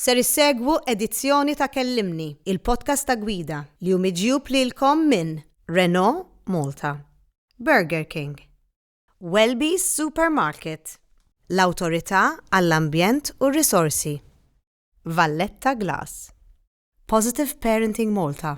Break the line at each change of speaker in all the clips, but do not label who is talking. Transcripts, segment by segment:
Ser issegwu edizzjoni ta' Kellimni, il-podcast ta' gwida li hu miġjub lilkom minn Renault Malta, Burger King, Welby's Supermarket, l-Awtorità għall-Ambjent u r-Risorsi, Valletta Glass, Positive Parenting Malta,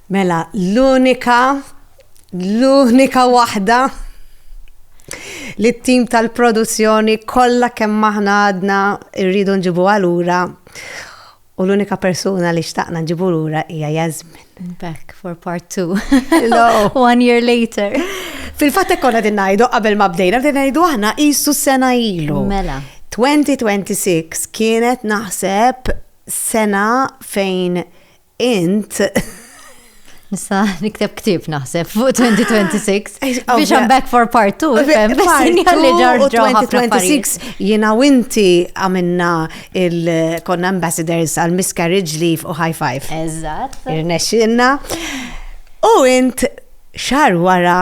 Mela l-unika, l-unika waħda li t-tim tal-produzzjoni kollha kemm aħna għadna rridu nġibuha lura u l-unika persuna li xtaqna nġibu lura hija Jasmine. Back for part
two. One year later. Fil-fatt hekk konna
din ngħidu qabel ma bdejna din ngħidu aħna qisu sena ilu. Mela. 2026 kienet naħseb sena fejn Int
Nista nikteb ktib naħseb fuq 2026 biex I'm back for part 2 fem li ġar
2026 jiena u inti għamilna il-konna ambassadors għal miscarriage leave u high five. Eżatt.
Irnexxinna.
U int xar wara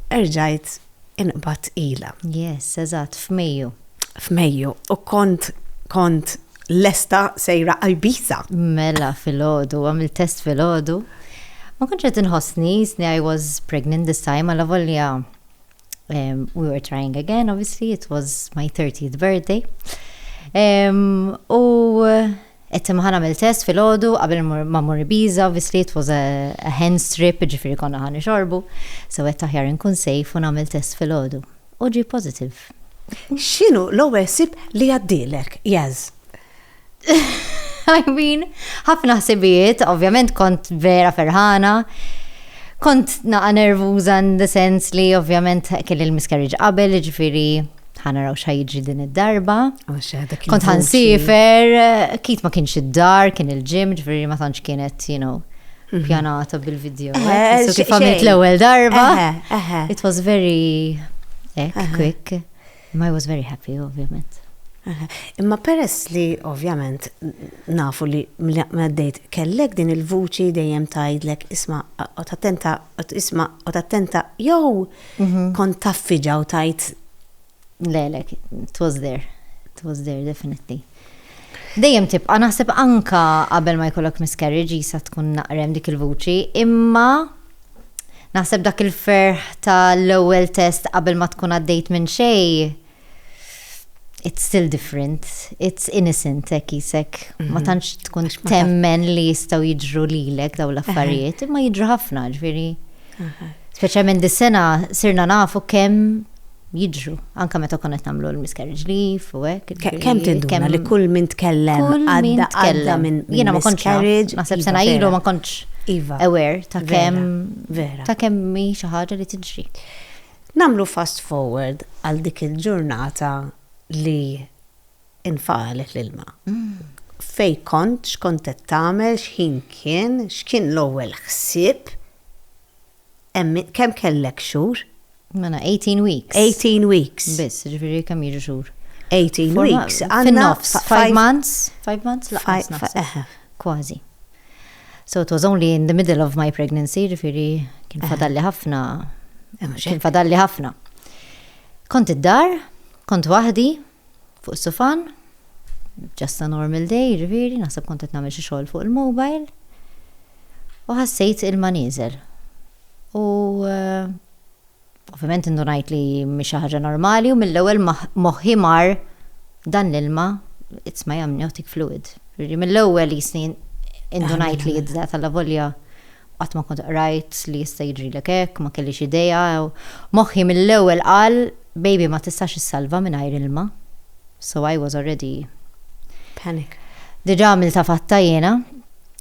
erġajt inqbadt ilha. Yes, eżatt,
f'Mejju. F'Mejju,
u kont, kont lesta sejra għal Ibiza. Mela
filgħodu, għamilt test filgħodu. Ma kontx qed inħossni, jisni I was pregnant this time, alla volja we were trying again, obviously, it was my 30th birthday. U Qed imma ħa nagħmel test filgħodu qabel immur ma mmur Ibiza obviously it was a a hen's trip jiġifieri konna ħa nixorbu, so għedt aħjar inkun safe u nagħmel test filgħodu. U ġie positive. X'inhu
l-ewwel ħsieb li jgħaddielek, Jazz?
I mean, ħafna ħsibijiet, ovvjament kont vera ferħana, kont naqa' nervuża in the sense li ovvjament kelli l-miscarriage qabel jiġifieri, ħa naraw xa jiġri din id-darba. Kont ħan sifer, kit ma kienx id-dar, kien il-ġim, ġveri ma tantx kienet, you know, mhm. pjanata bil-video. Eh, so kif għamilt l-ewel darba. It was very eh, quick. I was very happy, ovvjament. Imma
peress li ovvjament nafu li mladdejt kellek din il-vuċi dejjem tajdlek isma u tattenta isma u tattenta jew Kont taffiġa u tajt lelek,
it was there, it was there definitely. Dejjem tibqa' naħseb anka qabel ma jkollok miscarriage jisa tkun naqrem dik il-vuċi, imma naħseb dak il-ferħ tal-ewwel test qabel ma tkun għaddejt minn xejn it's still different, it's innocent hekk jisek. Ma mhm. tantx tkun temmen li jistgħu jiġru lilek daw l-affarijiet, imma jiġru ħafna ġifieri. Speċjalment dis-sena sirna nafu kemm jiġru, anka meta konna qed nagħmlu l-miscarriage leave u hekk. Kemm tinduna li
kull min tkellem għadda għadda minn jiena ma kontx carriage. Naħseb sena ilu ma
kontx iva. aware ta' kemm vera ta' kemm hi xi ħaġa li tiġri. Nagħmlu
fast forward għal dik il-ġurnata li nfagħalet l-ilma. Fejn kont, x'kont qed tagħmel, x'ħin kien, x'kien l-ewwel ħsieb, kemm kellek xhur? Mela 18
weeks. 18 weeks.
Biss, ġifieri kemm jiġu
xhur? 18 weeks.
Fin-nofs, 5
months, 5 months laqas. Kważi. So it was only in the middle of my pregnancy, ġifiri kien eh. fadalli ħafna, eh, kien fadalli ħafna. Kont id-dar, kont wahdi, fuq sufan, just a normal day, ġifiri, naħseb kont qed nagħmel xi xogħol fuq il-mobile. U ħassejt il-maniżel. U eh, Ovvjament indunajt li mhix xi ħaġa normali u mill-ewwel moħħi mar dan l-ilma it's my amniotic fluid. Jiġri mill-ewwel jisni indunajt li jidda tal-lavolja qatt ma kont qrajt li jista' jiġrilek hekk, ma kellix idea. Moħħi mill-ewwel qal baby ma tistax issalva mingħajr ilma. So I was already Panic.
Diġà
għamiltha fatta jiena.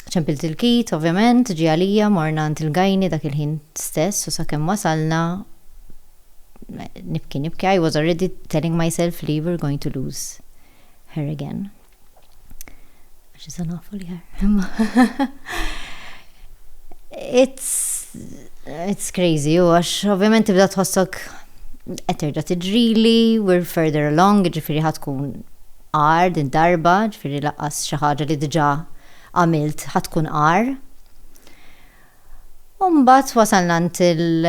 Ċempilt il-kit, ovvjament, ġie għalija, morna għand il-Gajni dak il-ħin stess u sakemm wasalna, nibki, nibki, I was already telling myself li we're going to lose her again. Għax issa nafu li her, imma. It's, it's crazy, u għax ovvjament tibda tħossok qed terġa' tiġrili, we're further along, ġifieri ħa tkun Għar din darba, ġifieri lanqas xi ħaġa li diġà għamilt ħa tkun għar. U mbagħad wasalna għand il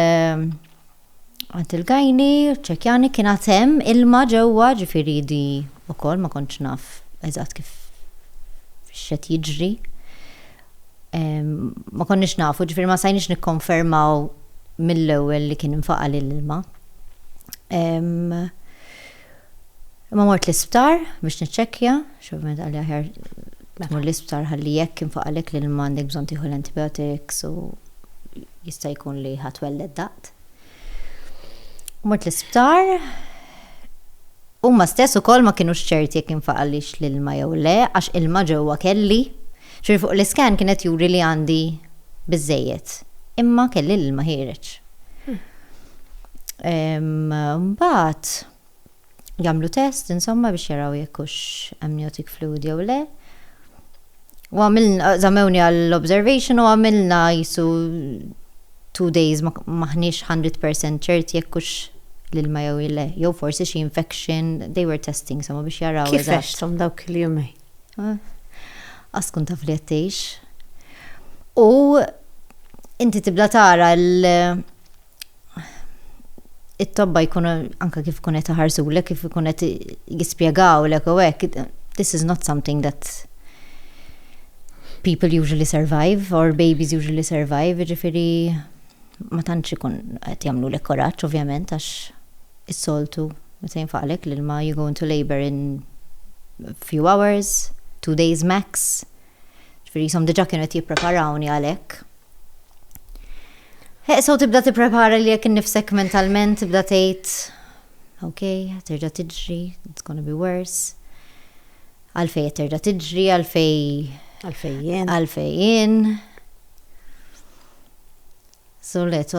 għand il-gajni, ċekjani kien għad hemm ilma ġewwa, ġifieri di wkoll ma kontx naf eżatt kif x'qed jiġri. Ma konniex nafu, ġifieri ma stajniex nikkonfermaw mill-ewwel li kien infaqa' l-ilma. Imma mort l-isptar biex niċċekkja, x'ovvjament qalli aħjar tmur l-isptar ħalli jekk infaqalek l-ilma għandek bżonn tieħu l-antibiotics u jista' jkun li ħa twelled daqt. Mort l-isptar, huma stess ukoll ma kinux ċerti jekk infaqalix l-ilma jew le għax ilma ġewwa kelli. Ġifieri fuq l-iscan kienet juri li għandi biżżejjed, imma kelli l-ilma ħiereġ. Mbagħad jagħmlu test insomma biex jaraw jekk hux amniotic fluid jew le. U għamilna, zamewni għall-observation u għamilna jisu two days maħniex 100% ċert jekk hux l-ilma jew le, jew forsi xi infection, they were testing somma biex jaraw. Kif għextom dawk
il-jumejn?
Qatt tkun taf li qed tgħix. U inti tibda tara l it-tobba jkunu anke kif ikun qed iħarsulek, kif ikun qed jispjegawlek u hekk, this is not something that people usually survive or babies usually survive, jiġifieri ma tantx ikun qed jagħmlulek kuraġġ ovvjament għax. Is-soltu meta jinfaqlek l-ilma you go into labour in few hours, two days max. Ġifieri qishom diġà kienu qed jippreparawni għal hekk. Heqsa u tibda tipprepara li jekk innifsek mentalment tibda tgħid ok, terġa' tiġri, it's gonna be worse. Għalfej terġa' tiġri, għalfej. Għalfejjen. Għalfejjen. So let's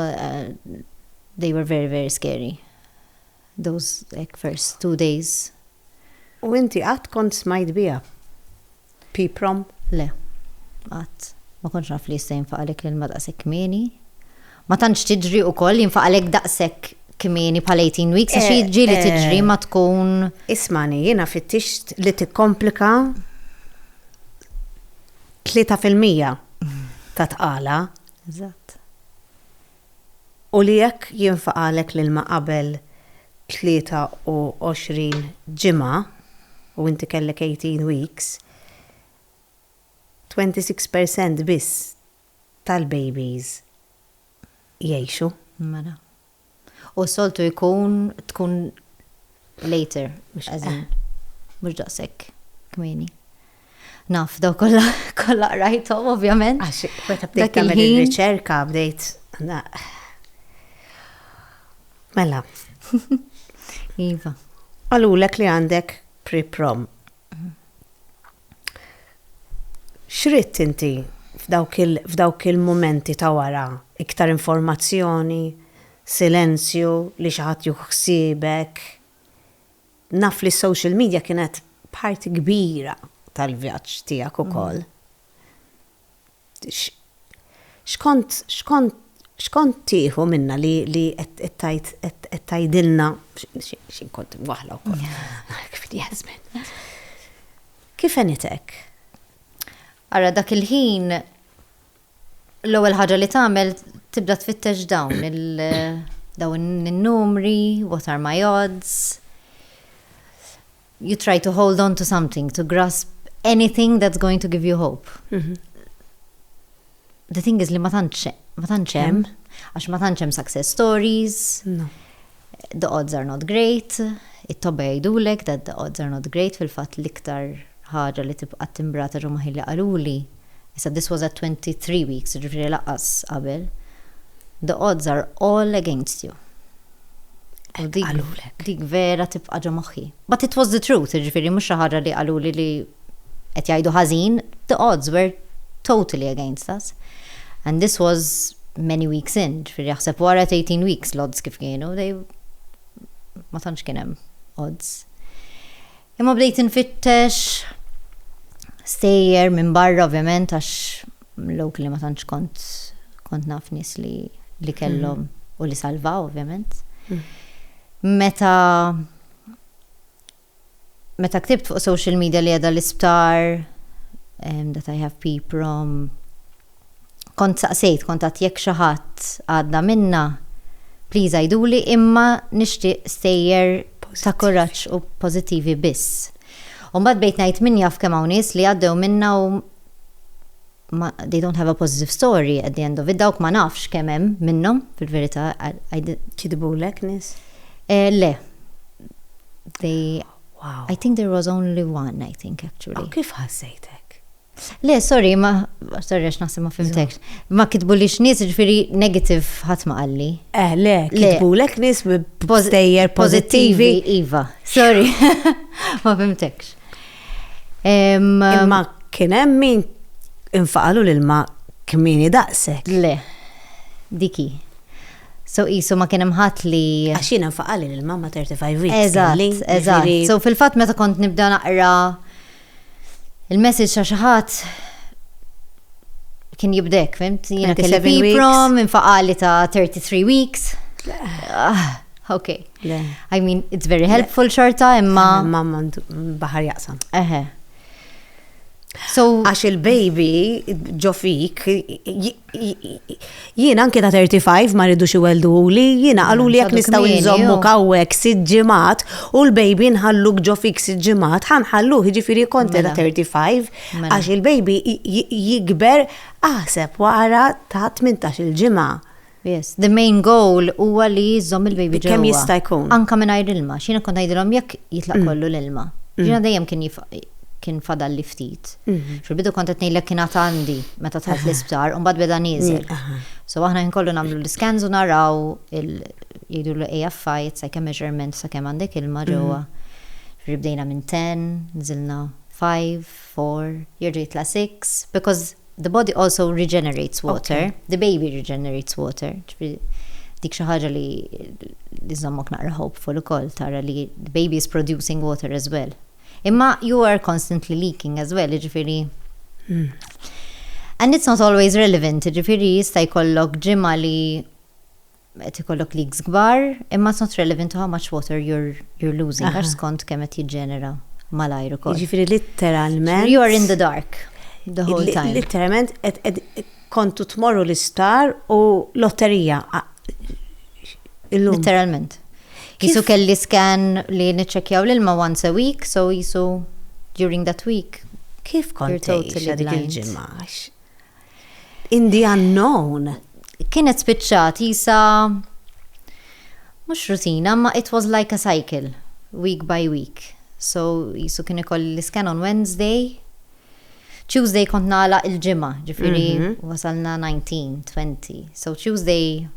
they were very very scary those hekk first two days. U inti
qatt kont smajt biha? P-prom? Le,
qatt. Ma kontx naf li jista' jinfaq għalhekk l-ilma daqshekk kmieni. Ma tantx tiġri wkoll jinfaq għalhekk daqshekk kmieni bħal 18 weeks għax eh, jiġri li eh. tiġri ma tkun. Ismani, jiena
fittixt li tikkomplika 3% ta' tqala Eżatt. U li jekk jinfaqagħlek l-ilma qabel 23 ġimgħa u inti kellek 18 weeks, 26 per cent biss tal-babies jgħixu. Mela.
U soltu jkun tkun later, mhux as in, mhux daqshekk kmieni. Naf, daw kollha kollha qrajthom ovvjament. Għax meta bdejt
tagħmel ir-riċerka bdejt Mela.
Iva. Qalulek
li għandek pre-prom. X'ridt inti f'dawk il-mumenti ta' wara? Iktar informazzjoni? Silenzju? Li xi ħadd jieħu ħsiebek? Naf li s-social media kienet parti kbira tal-vjaġġ tiegħek ukoll. X'kont x'kont x'kont tieħu minna li li qed tajt qed tgħidilna x'in kont waħla wkoll. Jasmin. Kif enitek?
Ara dak il-ħin l-ewwel ħaġa li tagħmel tibda tfittex dawn il dawn in-numri, what are my odds. you try to hold on to something, to grasp anything that's going to give you hope. Mhm. The thing is li ma tantx ma tantx hemm, għax ma tantx hemm success stories,
No. the odds
are not great, it-tobba jgħidulek that the odds are not great fil-fatt l-iktar ħaġa li tibqa' timbrata ġo maħilli qaluli Issa this was at 23 weeks, jiġifieri lanqas qabel. The odds are all against you. Hekk qalulek. Dik vera tibqa' ġo moħħi. But it was the truth, jiġifieri mhux xi ħaġa li qaluli li qed jgħidu ħażin, the odds were totally against us. And this was many weeks in, jiġifieri aħseb wara at 18 weeks l-odds kif kienu, they ma tantx kien hemm odds. Imma bdejt infittex stejjer minn barra ovvjament għax locally ma tantx kont kont naf nies li li kellhom u li salvaw ovvjament. Meta meta ktibt fuq social media li qiegħda l-isptar that I have PPROM, Kont saqsejt kuntatt jekk xi ħadd għadda minnha, please għiduli imma nixtieq stejjer ta' kuraġġ u pożittivi biss. U mbagħad bdejt ngħid min jaf kemm hawn nies li għaddew minnha u ma they don't have a positive story at the end of it, dawk ma nafx kemm hemm minnhom fil-verità. Kitbulek
nies? Eh, le.
They
Wow. I think there was only
one, I think actually. U kif ħassejtek?
Le,
sorry, ma, sorry, għax naħseb ma fimtekx. Ma kitbu li x'nies ġifiri negative ħadd ma qalli. Eh, le, kitbu
lek nies b'stejjer pozittivi. Iva, sorry,
ma fimtekx.
Ma kien hemm min infaqalu lil ma kmini daqsek. Le,
diki. So isu ma kienem ħadd li. Għaxina nfaqali
l-mamma 35 weeks. Eżatt, eżatt. So
fil-fatt meta kont nibda naqra il-message ta' xi ħadd kien jibdek, fimt? Jiena kelli piprom, infaqali ta' 33 weeks. Ah, ok. I mean, it's very helpful xorta, imma. Mamma baħar
jaqsam. Eħe.
So, għax il-baby
ġofik Jien anke ta' 35 ma rridux iweldu li jiena qalu li jekk nistgħu nżommu kawwek sitt ġimgħat u l-baby nħalluk ġo fik sitt ġimgħat ħanħallu jiġifieri kont ta' 35 għax il-baby jikber aħseb wara ta' 18 il-ġimgħa. Yes, the
main goal huwa li jżomm il-baby ġo. Kemm jista' jkun. Anka
mingħajr ilma, xina
kont ngħidilhom jekk jitlaq kollu l-ilma. Ġina dejjem kien kien fadalli ftit. Fil-bidu kont qed ngħidlek kien għad għandi meta tħalt l-isptar u mbagħad beda nieżel. So aħna kien kollu nagħmlu l-iskans u naraw jgħidu l-AFI, it's like a measurement sa kemm għandek ilma ġewwa. Ġifieri bdejna minn 10, nżilna 5, 4, jerġa' jitla' 6, because the body also regenerates water, the baby regenerates water. Ġifieri dik xi ħaġa li żżommok naqra hopeful ukoll tara li the baby is producing water as well. Imma you are constantly leaking as well, jiġifieri. And it's not always relevant, jiġifieri jista' jkollok ġimgħa li qed ikollok leaks kbar, imma it's not relevant to how much water you're, you're losing, għax skont kemm qed jiġġenera malajr ukoll. Jiġifieri litteralment.
You are in the dark
the whole time. Litteralment
Kontu tmorru l-isptar u lotterija. Illum.
Literalment. Jisu kelli scan li niċċekjaw l-ilma once a week, so jisu during that week. Kif kont
tgħix dik il-ġimgħa? In the unknown. Kienet
spiċċat jisa mhux rutina, ma it was like a cycle, week by week. So jisu kien ikolli l-iskan on Wednesday, Tuesday kont nagħlaq il-ġimgħa, ġifieri wasalna 19, 20. So Tuesday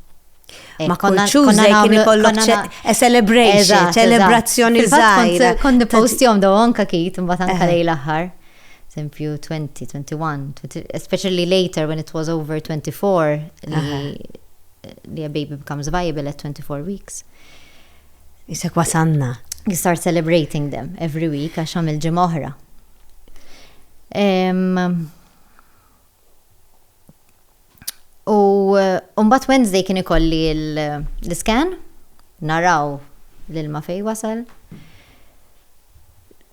Eh, ma
konna Tuesday kien ikollok a celebration, celebrazzjoni żgħira. Kont nipost jom daw
anka kit imbagħad anka eh. lejn l-aħħar. Sempju 20, 21, especially later when it was over 24 li a baby becomes viable at 24 weeks.
Isek wasanna. You start celebrating
them every week għax għamil ġimgħa oħra. U uh, mbagħad Wednesday kien ikolli l-iskan, naraw l-ilma fej wasal.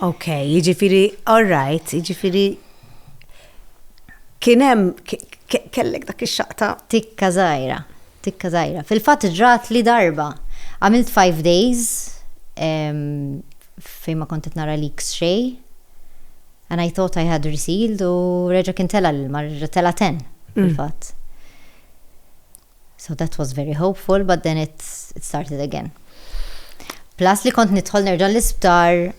Ok,
jiġifieri all right, jiġifieri kien hemm kellek dak ix-xaqta. Tikka żgħira,
tikka żgħira. Fil-fatt ġrat li darba. Għamilt five days fejn ma kont qed nara leaks xejn. And I thought I had resealed u reġa' kien tela' l-ilma, reġa' tela' ten, fil-fatt. So that was very hopeful but then it started again. Plus li kont nidħol nerġa' l-isptar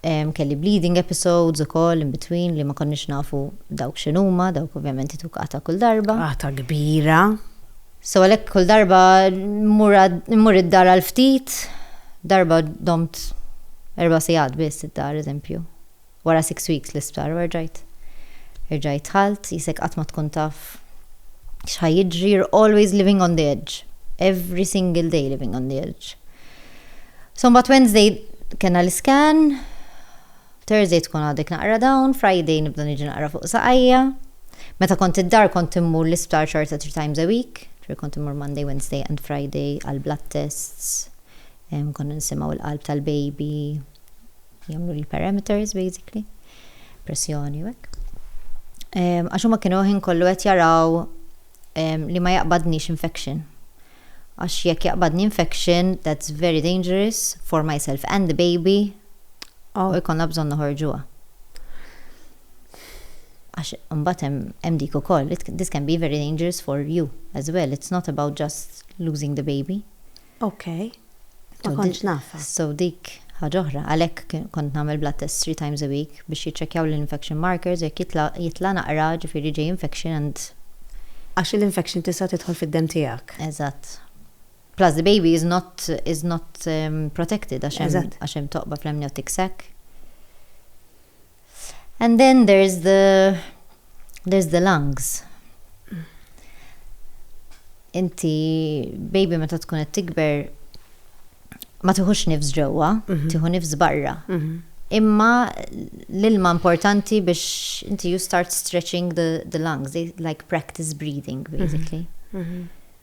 um, kelli bleeding episodes ukoll in between li ma konniex nafu dawk x'inhuma, dawk ovvjament itukata kull darba. Għata kbira.
So
għalhekk kull darba mmur id-dar għal ftit, darba domt erba' sigħat biss id-dar eżempju. Wara six weeks l-isptar u erġajt. Erġajt dħalt, jisek qatt ma tkun taf x'ħa jiġri, you're always living on the edge. Every single day living on the edge. So mbagħad Wednesday kena l-iskan, Thursday tkun għadek naqra dawn, Friday nibda niġi naqra fuq saqajja. Meta kont id-dar kont immur l-isptar xorta three times a week, ġifieri kont immur Monday, Wednesday and Friday għall-blood tests, konna nisimgħu l-qalb tal-baby, jagħmlu l-parameters basically, pressjoni u hekk. Ehm, għax huma kienu ħin kollu qed jaraw ehm, li ma jaqbadniex infection. Għax jekk jaqbadni infection, that's very dangerous for myself and the baby, oh. u jkollna bżonn noħorġuha. Għax imbagħad hemm dik ukoll, this can be very dangerous for you as well. It's not about just losing the baby. Ok.
Ma kontx nafha. So dik
ħaġa oħra. Għalhekk kont nagħmel blood test three times a week biex jiċċekkjaw l-infection markers u jekk jitla' jitla' naqra ġifieri ġej infection and. Għax
l-infection tista' tidħol fid-demm tiegħek. Eżatt.
Plus the baby is not is not protected għax hemm għax hemm toqba fl-amniotic sac. And then there's the there's the lungs. Inti baby meta tkun qed tikber ma tiħux nifs ġewwa, mhm. tiħu nifs barra. Mhm. Imma l-ilma importanti biex inti you start stretching the, the lungs, they like practice breathing mhm. basically.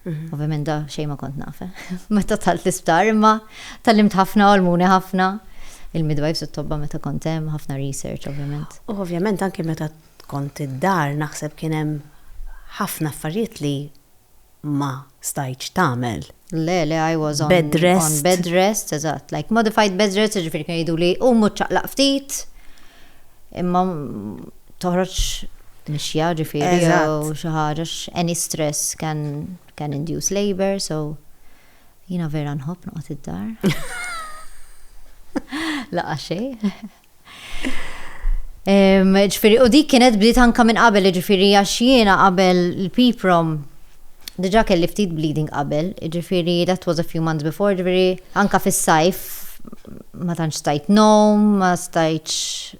Ovvjament da xejn ma kont naf, eh. Meta dħalt l-isptar, imma tgħallimt ħafna, għallmuni ħafna. Il-midwives u t-tobba meta kont hemm, ħafna research ovvjament. U ovvjament anke meta
kont id-dar naħseb kien hemm ħafna affarijiet li ma stajtx tagħmel. Le, le, I
was on bed rest. On bed
rest,
eżatt. Like modified bed rest, ġifieri kienu jgħiduli u mhux ċaqlaq ftit. Imma toħroġ mixja ġifieri jew xi ħaġa għax any stress can can induce labour so jiena vera nħobb noqgħod id-dar. Laqa xejn. Ġifiri, u dik kienet bdiet anka minn qabel, ġifiri, għax jiena qabel l-piprom, diġa kelli ftit bleeding qabel, ġifiri, that was a few months before, ġifiri, anka fis-sajf, ma tantx stajt nom, ma stajtx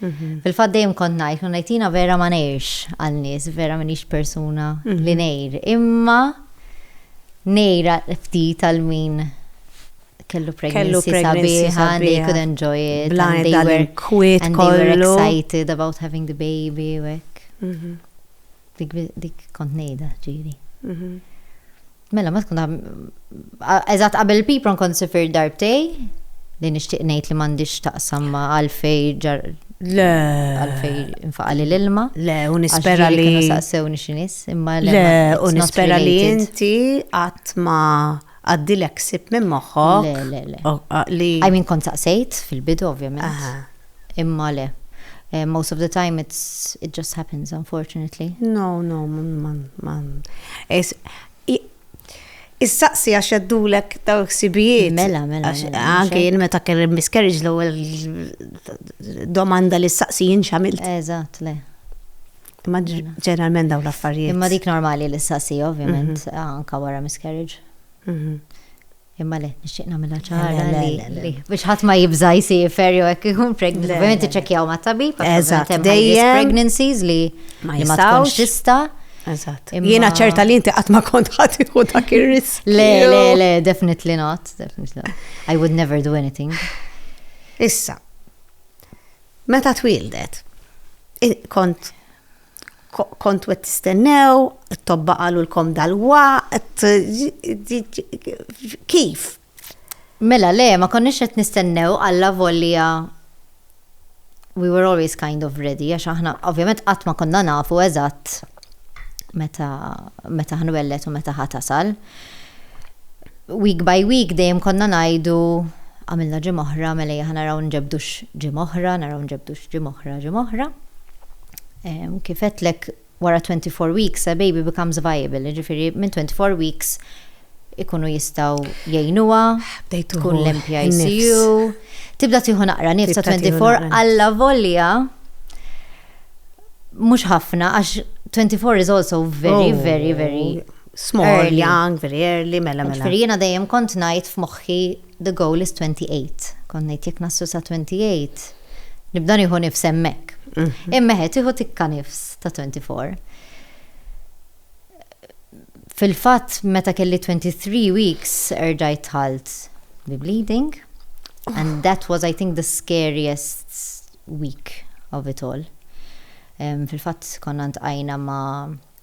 Fil-fatt dejjem kont ngħid, u ngħid jiena vera ma ngħirx għal nies, vera minix persuna li ngħir. Imma ngħira ftit għal min kellu pregnancy sabiħa, they could enjoy it, and they were, and they were excited about having the baby, u hekk. Mhm. Dik kont ngħidha, ġiri. Mhm. Mela ma tkun eżatt qabel il-pipron kont sifirt darbtej li nixtieq ngħid li m'għandix taqsam ma' għalfej ġar Le. Għalfej infaqali l-ilma. Le, u nispera li. Kienu saqsewni xinis,
imma le. Le, u nispera
li inti qatt ma għaddilek sib minn moħħok. Le, le, le.
Li. I mean kont saqsejt fil-bidu, ovvjament. imma le. Most of the time it's it just happens unfortunately. No, no,
ma Issaqsi għax jaddulek daw ksibijiet. Mela, mela.
mela anke jien
meta kelli miscarriage l-ewwel domanda li ssaqsi jien x'għamilt. Eżatt, le.
Imma
mela. ġeneralment daw l-affarijiet. Imma dik normali li
ssaqsi ovvjament mhm. anka wara miscarriage. Mhm. Imma le, nixtieq nagħmilha ċara li biex ħadd ma jibża' jsiefer jew hekk ikun pregnant. Ovvjament iċċekkjaw mat-tabib għax hemm dejjem pregnancies li ma jistgħux tista'. Eżatt.
Jiena ċerta li inti qatt ma kont ħadd ikun dak ir-risk. Le, le, le,
definitely not, definitely not. I would never do anything. Issa,
meta twildet, kont kontu qed tistennew, it-tobba qalulkom dal-waqt, kif? Mela
le, ma konniex qed nistennew alla volja we were always kind of ready, għax aħna ovvjament qatt ma konna nafu eżatt meta meta ħnwelled u meta ħa tasal. week by week dejjem konna ngħidu għamilna ġimgħa oħra mela ejja ħa naraw nġebbdux ġimgħa oħra, naraw nġebbdux ġimgħa oħra, ġimgħa oħra. Kif għedtlek wara 24 weeks a baby becomes viable, jiġifieri minn 24 weeks ikunu jistgħu jgħinuha, tkun l-MPICU, tibda tieħu naqra nifsa 24 alla volja mhux ħafna għax 24 is also very, very, very Small, young,
very
early,
mela mela. Ġifieri jiena dejjem kont
ngħid f'moħħi the goal is 28. Kont ngħid jekk naslu sa 28 nibda nieħu nifs hemmhekk. Mhm. Imma ħed tieħu tikka nifs ta' 24. Fil-fatt meta kelli 23 weeks erġajt ħalt bi bleeding and that was I think the scariest week of it all. Um, Fil-fatt konna ntqajna ma'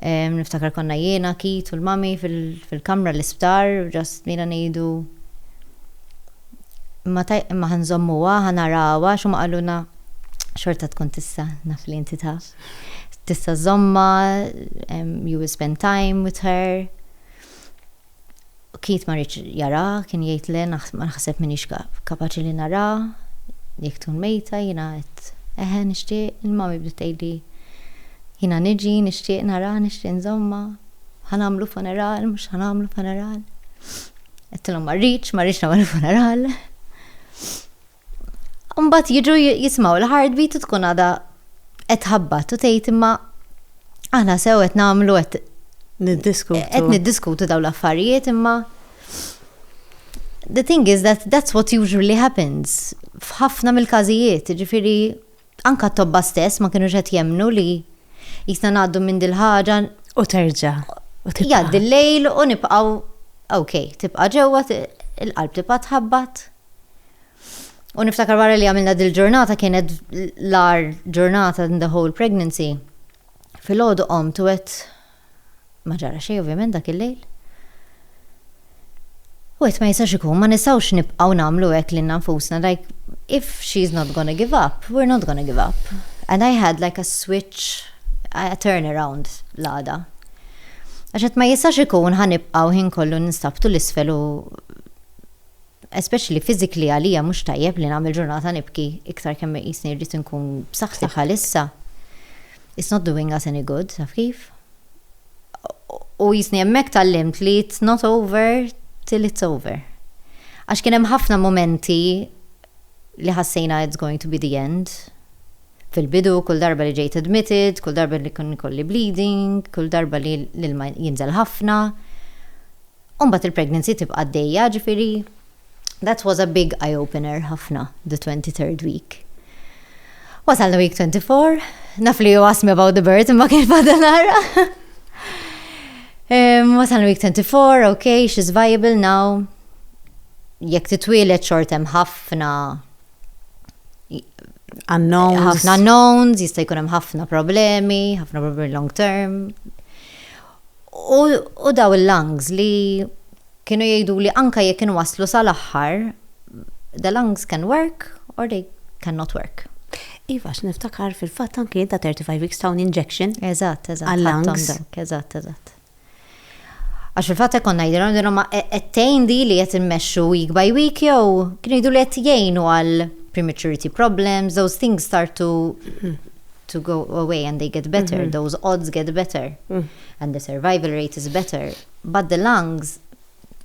Niftakar konna jiena, Keith u l-Mummy fil-kamra l-isptar u just bdejna ngħidu, Imma tajb, imma ħa nżommuha, ħa narawha, għax huma qalulna, Xorta tkun tista', naf li inti taf. Tista' żżommha, you will spend time with her. Keith ma riedx jaraha, kien jgħid le ma naħseb m'iniex kapaċi li naraha, jekk tkun mejta, jiena għedt eħe nixtieq, il-mommy bdiet tgħidli jiena niġi, nixtieq naraha, nixtieq nżommha, ħa nagħmlu funeral, mhux ħa nagħmlu funeral. Għedtilhom ma rridx, ma rridx nagħmel funeral. Mbagħad jiġu jismaw l-heartbeat u tkun għada qed tħabbat u tgħid imma aħna sew qed nagħmlu qed niddiskutu. Qed niddiskutu dawn l-affarijiet imma the thing is that that's what usually happens f'ħafna mill-każijiet, ġifieri Anke t-tobba stess ma kinux qed jemmnu li qisna ngħaddu minn dil-ħaġa. U terġa'.
Jgħaddi
l-lejl u nibqgħu okej, tibqa' ġewwa, il-qalb tibqa' tħabbat. U niftakar wara li għamilna dil-ġurnata kienet l-agħar ġurnata in the whole pregnancy. Filgħodu qomt u għedt Ma ġara xejn ovvjament dak il-lejl. Wieħed ma jistax ikun, ma nistgħux nibqgħu nagħmlu hekk lilna nfusna like if she is not gonna give up, we are not gonna give up. And I had like a switch, a turn around l-għada. Għax qed ma jistax ikun ħa nibqa' l-ħin kollu ninstab tul isfel u Especially physically għalija mhux tajjeb li nagħmel ġurnata nibki iktar kemm iqisni rrid inkun b'saħħti bħalissa. It's not doing us any good, taf kif? U jisni hemmhekk tgħallimt li it's not over till it's over. Għax kien hemm ħafna mumenti li ħassejna it's going to be the end. Fil-bidu, kull darba li ġejt admitted, kull darba li kun ikolli bleeding, kull darba li l-ilma jinżel ħafna. U mbagħad il-pregnancy tibqa' għaddejja, ġifieri that was a big eye opener ħafna the twenty third week. Wasalna week twenty four, naf li you asked me about the birth imma kien fadal ara. Wasalna week twenty four, okay, she's viable now. Jekk titwielet xort hemm ħafna unknowns. Ħafna unknowns, jista' jkun hemm ħafna problemi, ħafna problemi long term. U daw il-lungs li kienu jgħiduli anke jekk inwasslu sal-aħħar, the lungs can work or they can not work. Iva, għax
niftakar fil-fatt anke jien ta' 35 weeks tawni injection. Eżatt, eżatt. Għal-lungs. Eżatt, eżatt.
Għax fil-fatt hekk konna jgħidilhom din huma qed tgħin di li qed immexxu week by week jew kienu jgħidu li qed jgħinu għal prematurity problems, those things start to to go away and they get better, mm-hmm. those odds get better, mm. and the survival rate is better. But the lungs,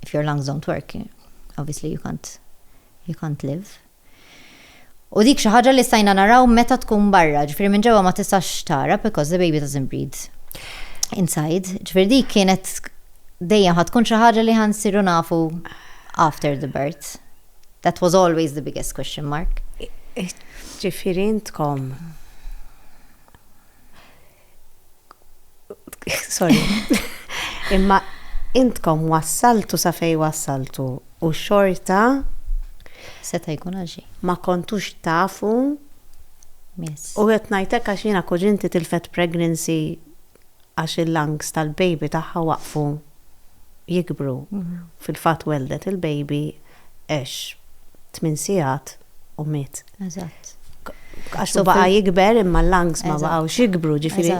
if your lungs don't work, obviously you can't, you can't live. U dik xi ħaġa li stajna naraw meta tkun barra, ġifieri minn ġewwa ma tistax tara because the baby doesn't breathe inside. Ġifieri dik kienet dejjem ħad tkun xi ħaġa li ħansiru nafu after the birth. That was always the biggest question mark. Ġifieri
intkom Sorry. Imma intkom wassaltu sa fej wassaltu u xorta
seta' jkun għal xejn. Ma kontux
tafu
u qed ngħidlek
għax jiena kuġinti tilfet pregnancy għax il-lungs tal-baby tagħha waqfu jikbru. Fil-fatt welldet il-baby għex tmien sigħat u miet. Eżatt.
Għax hu
baqa' jikber imma l-lungs ma baqgħux jikbru, ġifieri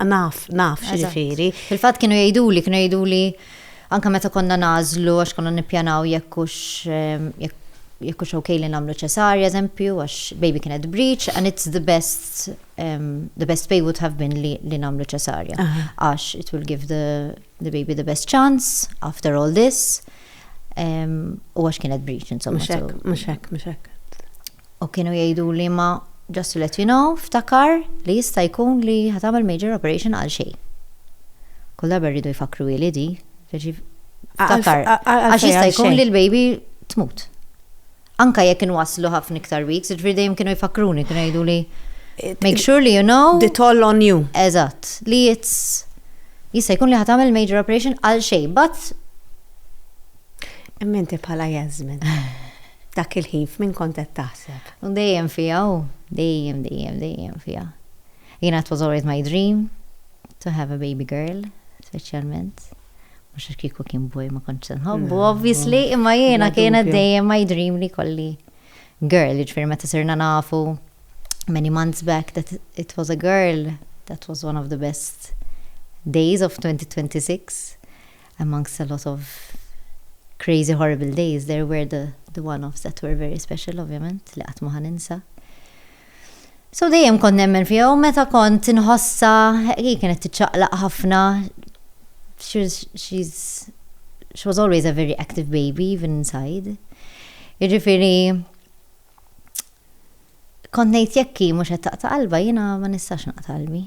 naf, naf x'jiġifieri. Fil-fatt kienu jgħiduli,
kienu jgħiduli anke meta konna nagħżlu għax konna nippjanaw jekk hux jekk hux ok li nagħmlu ċesarja eżempju għax baby kienet breech and it's the best the best way would have been li, li namlu ċesarja. Għax it will give the, the baby the best chance after all this. Um, u għax kienet breach, insomma. Muxek, muxek, muxek.
U
kienu jgħidu li ma just to let you know, ftakar li jista' jkun li ħatamel major operation għal xej. Kull darba rridu jfakru li di, ftakar. Għax jista' jkun li l-baby tmut. anke jekk kienu waslu ħafna iktar weeks, jiġifieri dejjem kienu jfakkruni, kienu jgħiduli make sure li you know. The toll on you.
Eżatt, li
it's jista' jkun li ħa tagħmel major operation għal xejn, but. Imma
inti bħala Jasmine, dak il-ħin f'min kont qed taħseb? U dejjem fiha
u dejjem dejjem dejjem fiha. Jiena it was always my dream to have a baby girl, speċjalment. Mhux għax kieku kien boy ma kontx se nħobbu, obviously, imma jiena kienet dejjem my dream li kolli girl, jiġifieri meta sirna nafu many months back that it was a girl, that was one of the best days of 2026 amongst a lot of crazy horrible days there were the, the one-offs that were very special ovvjament li qatt ma ħaninsa. So dejjem kont nemmen fiha u meta kont inħossha hi kienet tiċċaqlaq ħafna. She was always a very active baby even inside. Jiġifieri kont ngħid jekk hi mhux qed taqta' qalbha jiena ma nistax naqta' qalbi.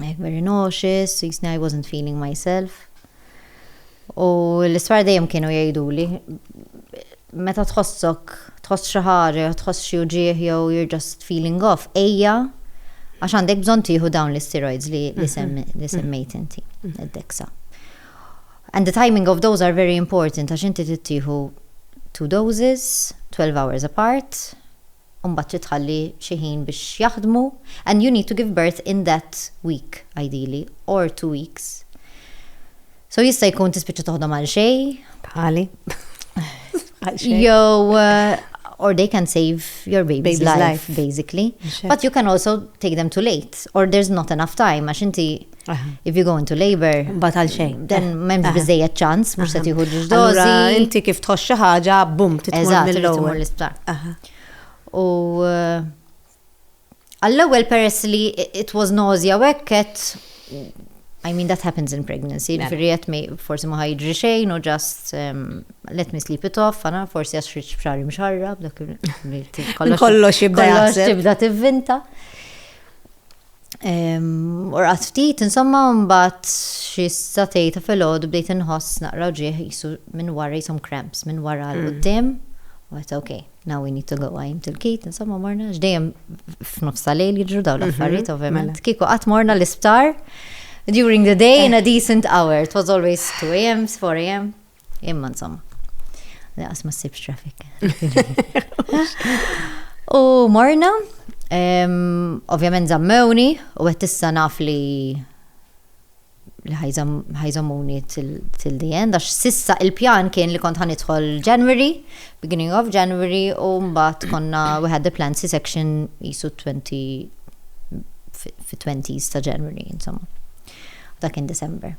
Like very nauseous, jisni I wasn't feeling myself. U l-isfar dejjem kienu jgħiduli, meta tħossok, tħoss xi ħaġa, tħoss xi uġieħ jew you're just feeling off, ejja għax għandek bżonn tieħu dawn l-steroids li mhm. semmejt inti, mhm. id-deksa. And the timing of those are very important għax inti tittieħu two doses, 12 hours apart, u mbagħad trid tħalli xi ħin biex jaħdmu and you need to give birth in that week ideally or two weeks. So jista' jkun tispiċċa toħdom għal xejn. Bħali.
Jew
uh, or they can save your baby's, baby's life, life, basically. Sure. But you can also take them too late or there's not enough time għax inti If you go into labor. Mbagħad għal xejn. Dan
eh, m'hemmx eh. biżejjed
ċans, mhux se tieħu ġdożi. Inti kif
tħoss xi ħaġa, bum, titmur mill-ewwel l-isptar.
U eh, għall-ewwel peress li it was nausea wekket, I mean that happens in pregnancy, mela. firri jett me forsi ma ħajġri xejn u just um, let me sleep it off, għana forsi għax xriċ fxari mxarra, b'dak
kollox jibda jibda
tivvinta. U rqat ftit, insomma, mbagħad xi satej ta' filgħodu bdejt inħoss naqra ġieħ jisu minn wara jisom cramps, minn wara l qudiem U għet, ok, now we need to go, għajm til-kit, insomma, morna, ġdejem f'nofsa lejl jidru daw mhm, l-affarijiet, ovvijament. Mela. Kiku għat morna l-isptar, during the day in a eh. decent hour, it was always 2 a.m., 4 a.m. Imma insomma, laqas ma ssibx traffic. U morna, ovvjament zammewni, u għet issa naf li li ħajżomuni til the end, għax sissa il-pjan kien li kont ħanidħol January, beginning of January, u mbatt konna we had the plan si section jisu 20 fi 20s ta' January, insomma. Dak in December.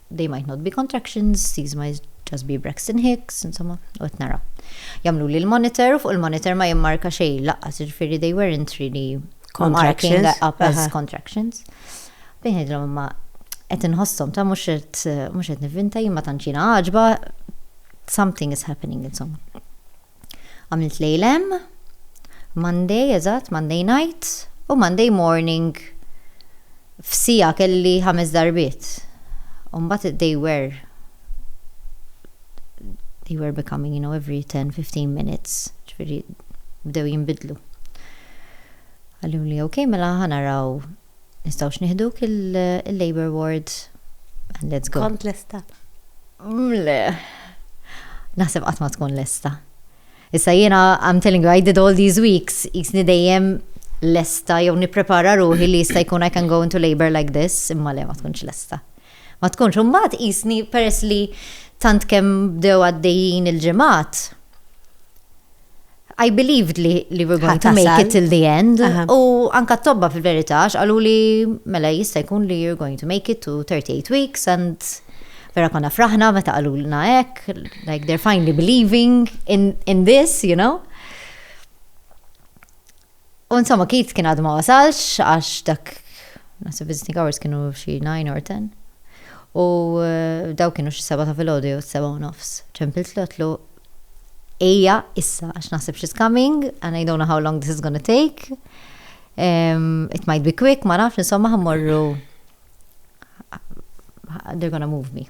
They might not be contractions, these might just be Braxton Hicks, insomma, u qed nara. Jagħmluli l-monitor u fuq il-monitor ma jimmarka xejn lanqas, jiġifieri they weren't really marking up as contractions. Bejn ngħidilhom imma qed inħossom ta' mhux qed mhux qed nivvinta jien ma tantx jiena għaġba something is happening insomma. Għamilt lejl hemm, Monday eżatt, Monday night u Monday morning f'siegħa kelli ħames darbiet. U mbagħad they were they were becoming, you know, every 10-15 minutes, ġifieri bdew jinbidlu. Qaluli, ok, mela ħanaraw Nistgħux nieħduk il-Labour Ward? Let's go. Kont lesta.
Le.
Naħseb qatt ma tkun lesta. Issa jiena I'm telling you I did all these weeks, jisni dejjem lesta jew nipprepara ruħi li jista' jkun I can go into labor like this, imma le ma tkunx lesta. Ma tkunx, u mbagħad jisni peress li tant kemm bdew għaddejjin il-ġimgħat, I believed li li we're going to make it till the end. U anka tobba fil-verità, xqalu li mela jista' jkun li you're going to make it to 38 weeks and vera konna fraħna meta qalu l hekk, like they're finally believing in, in this, you know. U insomma Keith kien għad ma wasalx għax dak naħseb visiting hours kienu xi 9 or 10. U eh, daw kienu xi seba ta' filgħodu jew seba u nofs. Ċempilt lotlu ejja issa għax naħseb she's coming and I don't know how long this is gonna take. Um, it might be quick, ma nafx, insomma ħammorru they're gonna move me.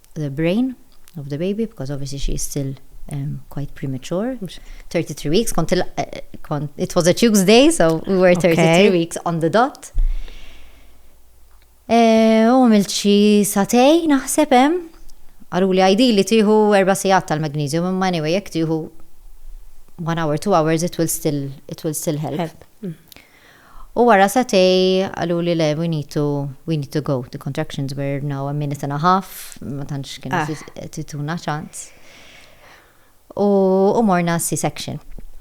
the brain of the baby because obviously she is still um, quite premature. 33 weeks, kont, uh, kont, it was a Tuesday, so we were 33 okay. weeks on the dot. Eh, u għamilt xi satej naħseb hemm. Għalu li għajdi li tieħu erba' sigħat tal-magnesium, imma anyway jekk tieħu one hour, two hours, it will still, it will still help. help. Mm. U wara satej qaluli le we need to we need to go. The contractions were now a minute and a half, ma tantx kienu ah. tituna ċans. U, u morna C-section.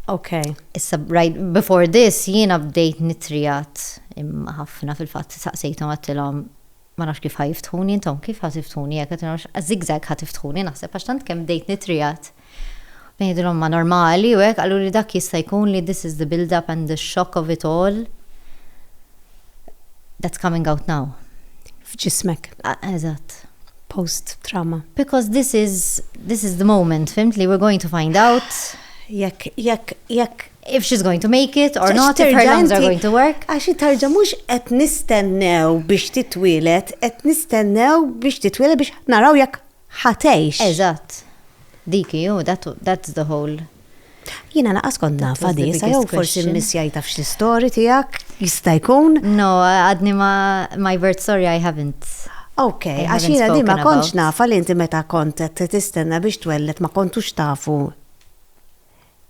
Okay.
Issa, right,
before this, jiena bdejt nitrijat imma ħafna fil-fatt saqsejthom għattilhom Ma nafx kif ħa jiftħuni intom, kif ħa tiftħuni hekk, zigzag ħa tiftħuni naħseb għax tant kemm bdejt nitriegħed. Bdejt ngħidilhom ma normali u hekk, qaluli dak jista' jkun li this is the build up and the shock of it all that's coming out now. F'ġismek.
Eżatt.
Post
trauma. Because this is,
this is the moment, fhimt li we're going to find out. Jekk,
jekk, jekk
if she's going to make it or not, if her lungs are going to work. Għax tarġa mux
qed nistennew biex titwilet, qed nistennew biex titwilet biex naraw jekk ħatejx. Eżatt.
Diki, ju, that's the whole. Jina
laqas kont nafa di, sa jow forsi missjaj taf xi story tijak, jista jkun. No, għadni
ma my birth story I haven't. Ok, għax
jina di ma kontx nafa li inti meta kont tistenna biex twellet ma kontux tafu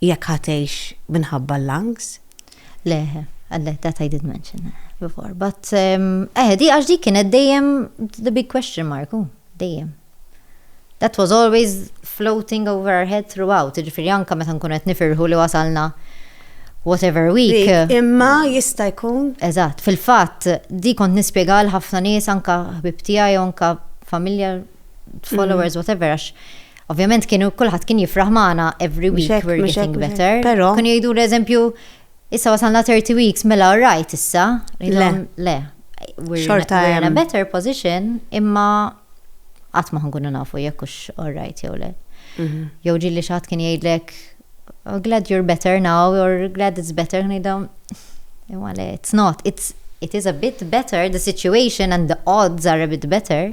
jekk ħa tgħix minħabba l-lungs. Le,
le, that I did mention eh, before. But, ehm, eh, di għax di kienet dejjem the big question mark, oh, dejjem. That was always floating over our head throughout, ġifiri anka meta nkun qed nifirħu li wasalna whatever week. Imma jista'
jkun. Eżatt, fil-fatt
di kont nispjega għal ħafna nies anka ħbib tiegħi anka familja followers mm. whatever għax Ovvjament kienu kulħadd kien jifraħ magħna every week hekk, we're mhux hekk, getting mhux hekk. better. Però- Kienu jgħidu l-eżempju, issa wasalna 30 weeks, mela alright issa. Ngħidilhom, Le. We're, Xorta we're in a hemm. better position, imma qatt ma ħankunu nafu jekk hux alright jew le. Mhm. Jew ġieli xi ħadd kien jgħidlek, "Oh, glad you're better now, or glad it's better, ngħidhom, imma le, it's not, it's, it is a bit better, the situation and the odds are a bit better,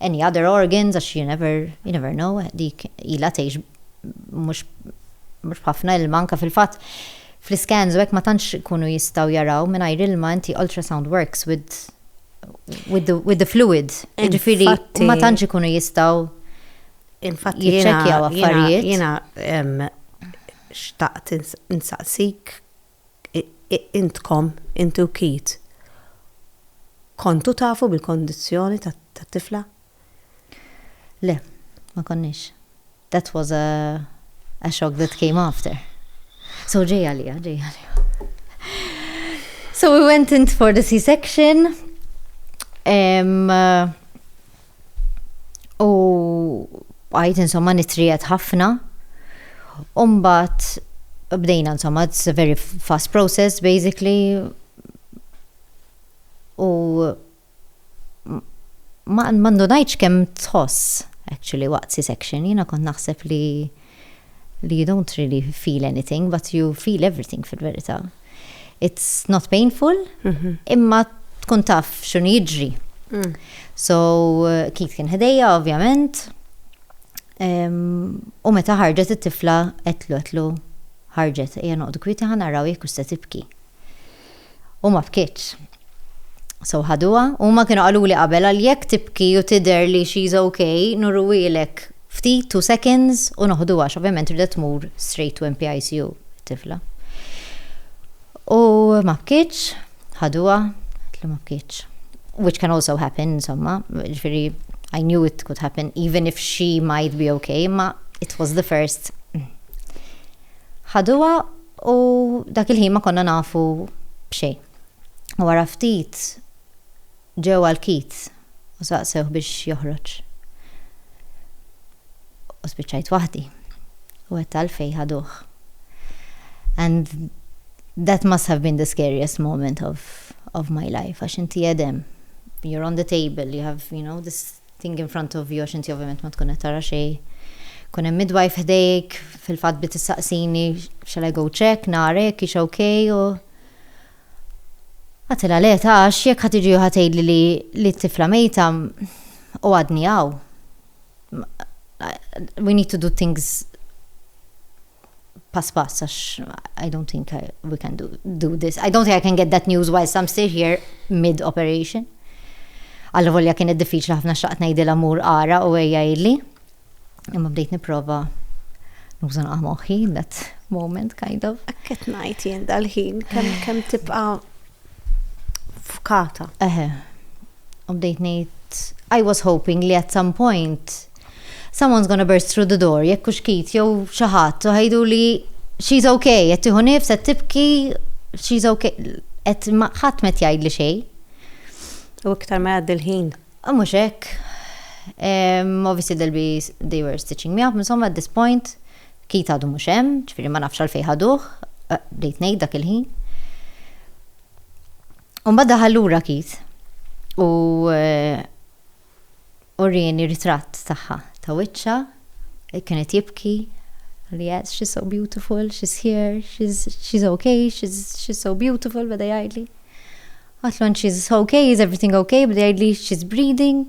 any other organs għax you never, you never know, dik ilha tgħix mhux mhux b'ħafna ilma anke fil-fatt fl-iskans u hekk ma tantx ikunu jistgħu jaraw mingħajr ilma inti ultrasound works with with the, with the fluid. Ġifieri Infatti- ma tantx ikunu jistgħu Infatti
Jiċċekkjaw jiena- affarijiet.
Jiena em,
xtaqt ins- insaqsik intkom, inti u Keith, kontu tafu bil-kondizzjoni tat-tifla?
Le, ma konniex. That was a, a shock that came after. So ġej għalija, ġej għalija. So we went in for the C-section. Um, uh, u għajt insomma nitrijet ħafna. Umbat bdejna insomma, it's a very fast process basically. U ma ndunajtx kemm tħoss actually waqt C-section, jiena kont naħseb li li you don't really feel anything but you feel everything fil-verità. It's not painful, mhm. imma tkun taf xun jiġri. Mm. So, Keith kien ħdejja, ovvjament, u meta ħarġet it-tifla, etlu, etlu, ħarġet, ejja noqdu kwiti ħanaraw jekk se tibki. u ma bkietx. So ħaduha. Huma kienu qaluli qabel għal jekk tibki u tidher li she's ok, nurruhielek ftit two seconds u noħduha għax ovvjament ridet tmur straight to NPICU it-tifla. U ma bkietx, ħaduha, għedtlu ma bkietx. Which can also happen, insomma, ġifieri I knew it could happen even if she might be ok, imma it was the first. Ħaduha u dak il-ħin ma konna nafu b'xejn. Wara ftit ġew għal Keith u saqsewh biex joħroġ. U spiċċajt waħdi. U għedt għalfejn ħaduh. And that must have been the scariest moment of of my life għax inti qegħed hemm, you're on the table, you have, you know, this thing in front of you għax inti ovvjament ma tkun qed tara xejn. Kun hemm midwife ħdejk, fil-fatt bdiet tistaqsini shall I go check, nara jekk hix okay u Għatilha le ta għax jekk ħa tiġi u ħa tgħidli li li t-tifla mejta u għadni hawn. We need to do things pass pass għax I don't think I, we can do, do this. I don't think I can get that news whilst I'm still here mid-operation. Għallu volja kienet diffiċli ħafna xaqt ngħidil amur ara u għeja illi. Imma bdejt niprofa nużan għamoħi that moment kind of. Akket najt jien
dal-ħin kem tibqa fkata. Eħe.
U bdejt ngħid, I was hoping li at some point someone's gonna burst through the door, jekk hux Keith jew xi ħadd, u ħejjiduli she's ok, qed tieħu nifs, qed tibki, she's ok. Qed imma ħadd m'qed jgħidli xejn. U
iktar ma jgħaddi l-ħin. U mhux hekk.
Obviously they'll be, they were stitching me up, insomma at this point, Keith għadu mhux hemm, ġifieri ma nafx għalfejn ħaduh, bdejt ngħid dak il-ħin. U mbagħad daħal lura Keith u urieni ritratt tagħha ta' wiċċha, kienet jibki, li yes, she's so beautiful, she's here, she's, she's okay, she's, she's so beautiful, bada jgħidli. Għatlon, she's okay, is everything okay, bada jgħidli, she's breathing,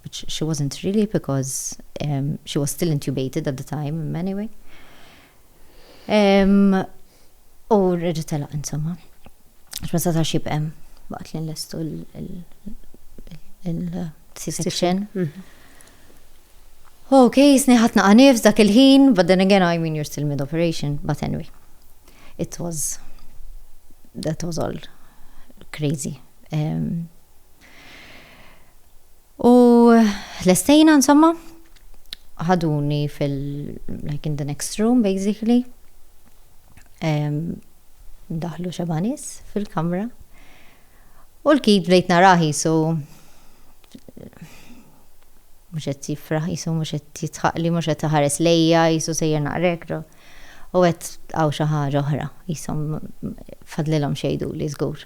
which she wasn't really because um, she was still intubated at the time, anyway. Um, u rridu telaq insomma. Xma sa' ta' xibqem, baqt li nlestu il-C-section. Mhm. Ok, sniħatna għanif dak il-ħin, but then again, I mean, you're still mid-operation, but anyway. It was, that was all crazy. Um, U l-estejna, insomma, ħaduni fil, like in the next room, basically. Daħlu xabanis fil-kamra. U l-kid bdejt naraħi, so mux għet jifraħ, jisu mux għet jitħaqli, mux għet ħares lejja, jisu sejjer naqrekru. U għet għaw xaħġa oħra, jisu fadlilom xejdu li zgur.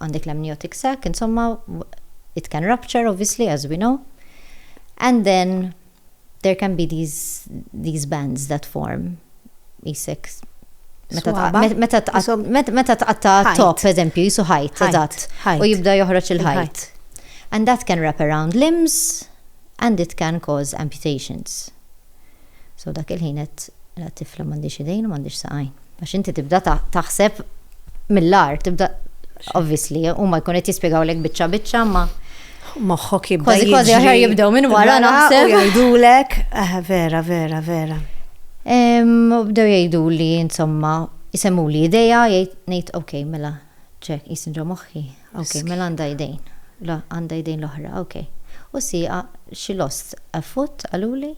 għandek l-amniotic sac, insomma, it can rupture obviously as we know, and then there can be these, these bands that form. Isek, meta tqatta top, eżempju, jisu ħajt, eżatt, u jibda joħroġ il-ħajt. And that can wrap around limbs and it can cause amputations. So dak il-ħin għedt, mela tifla m'għandhiex idejn u m'għandhiex saqajn. Għax inti tibda taħseb mill-agħar, tibda obviously huma jkun qed jispjegawlek biċċa biċċa ma moħħok
jibda. Kważi kważi aħjar jibdew minn
wara naħseb. Jgħidulek,
eh, vera, vera, vera.
Bdew jgħidu li insomma jisemmu li ideja jgħid ngħid ok mela ċek jisinġa moħħi. Ok, mela għandha jdejn. Le, għandha jdejn l-oħra, ok. U sieqa, she lost a foot, qaluli.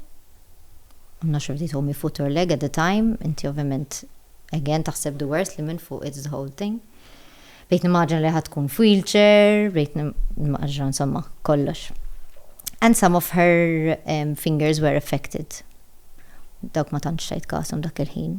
I'm not sure if they told me foot or leg at the time, inti ovvjament, again, taħseb the worst li minn fuq it's the whole thing. Bdejt nimmaġina li ħa tkun f'wheelchair, bdejt nimmaġina insomma kollox. And some of her um, fingers were affected. Dawk ma tantx tajt kashom dak il-ħin.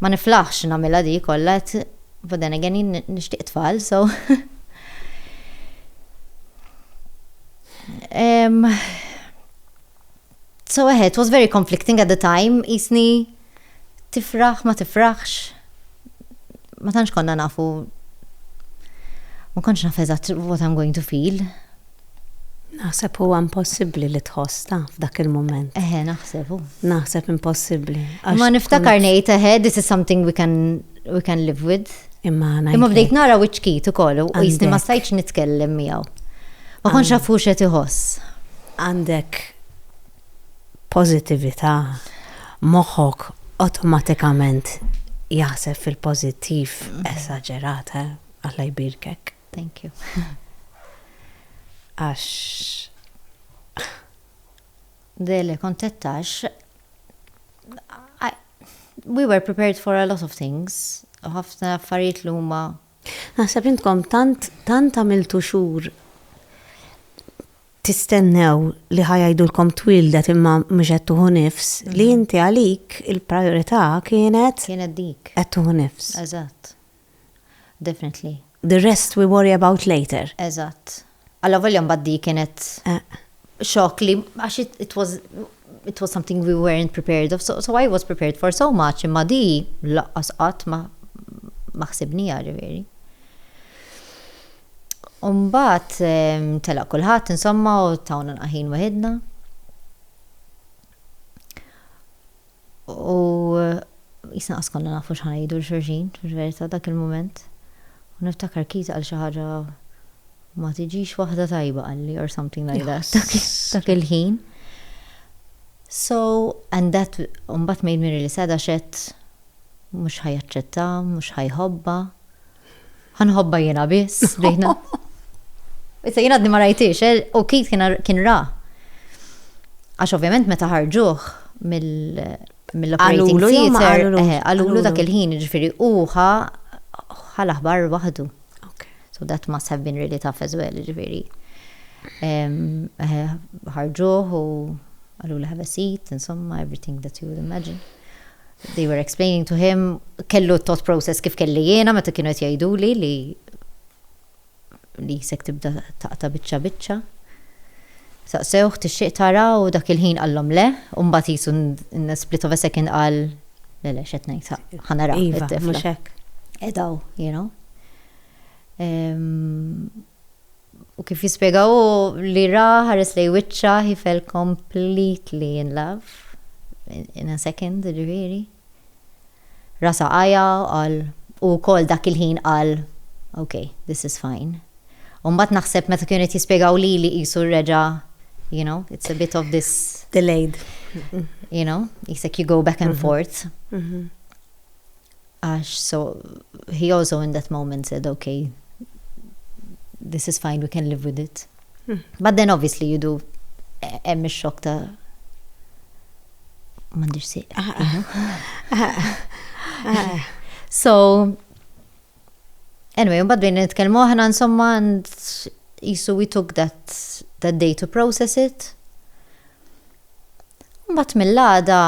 Ma niflaħx nagħmilha di kollha qed but then again jien nixtieq tfal so um, so eh, it was very conflicting at the time jisni tifraħ ma tifraħx ma tantx konna nafu ma kontx naf eżatt what I'm going to feel
Naħseb huwa impossibbli li tħoss, taf, f'dak il-mument. Eħe, naħseb hu.
Naħseb impossibbli.
Imma niftakar
ngħid eħe, this is something we can, we can live with. Imma ngħid. Imma bdejt nara wiċċkit ukoll u jisni ma stajtx nitkellem miegħu. Ma kontx naf hux qed iħoss. Għandek
pożittività, moħħok awtomatikament jaħseb fil-pożittiv esaġerat, eh, Alla jbierkek. Thank you.
Għax. Dele kontettax. We were prepared for a lot of things. Ħafna affarijiet li huma. Naħseb intkom
tant tant għamiltu xhur tistennew li ħajajdulkom twildet imma mhux qed tuħu nifs li mhm. inti għalik il-priorità kienet kienet dik qed
tuħu nifs.
Eżatt.
Definitely. The rest
we worry about later. Eżatt.
Allavolja mbagħad di kienet xokk li għax it was it was something we weren't prepared of, so, so I was prepared for so much, imma di laqqas qatt ma ma ħsibnija ġifieri. Umbat ehm, telaq kulħadd insomma u tawna naqħin weħidna. U qisna qas konna nafu x'ħa ngħidu 'l xulxin fil-verità dak il-mument. U niftakar Keith qal xi ħaġa ma tiġix waħda tajba qalli or something like that dak il-ħin. So, and that mbagħad made me really sad għax għedt mhux ħa jaċċetta, mhux ħa jħobbha. Għanħobba jena biss, diħna. Issa jena għadni ma rajtix, eh, u kif kien ra. Għax ovvjament meta ħarġuħ mill-operating theater, eh, għalulu dak il-ħin, ġifiri, uħa ħal-aħbar wahdu. So that must have been really tough as well, ġifiri. Eh, ħarġuħ u għalulu have a seat, insomma, everything that you would imagine. They were explaining to him, kellu t-thought process kif kelli jiena meta kienu qed jgħiduli li li jisek tibda taqta biċċa biċċa. Saqsewh tixtieq tara u dak il-ħin qallhom le, u mbagħad jisu in a split of a second qal le le x'qed ngħid ħanara iva, it-tifla.
Edaw, you
know. Um, U kif jispjega hu li ra ħares lej wiċċha he fell completely in love in a second ġifieri. Rasa għaja qal u wkoll dak il-ħin qal ok, this is fine. U mbagħad naħseb meta kienu qed jispjegaw lili qisu reġa' you know, it's a bit of this delayed.
You know,
jisek you go back and mhm. forth. Mhm. għax so he also in that moment said okay this is fine we can live with it. Hmm. But then obviously you do hemm ix-xokk ta' m'għandix sieq. Ah, ah. Ah, so anyway, mbagħad bejn nitkellmu aħna insomma and jisu we took that that day to process it. Mbagħad mill-għada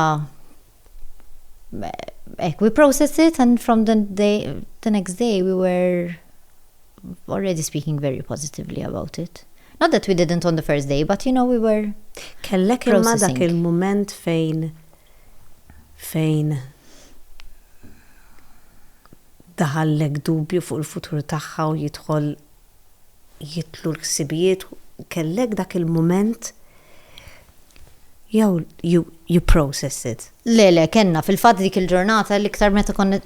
Ek, we processed it and from the, day, the next day we were already speaking very positively about it. Not that we didn't on the first day, but you know, we were Kellek imma
dak il-moment fejn fejn daħallek dubju fuq il-futur tagħha u jidħol jitlu l-ħsibijiet, kellek dak il-mument jew you, you process it? Le, le, kellna fil-fatt
dik il-ġurnata l-iktar meta konna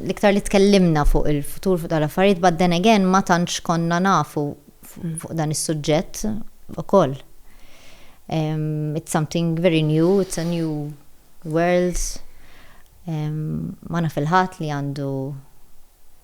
l-iktar li tkellimna fuq il-futur fuq dal-affarijiet, but then again ma tantx konna nafu mm. fuq dan is-suġġett ukoll. Um, it's something very new, it's a new world. Um, ma naf il-ħadd li għandu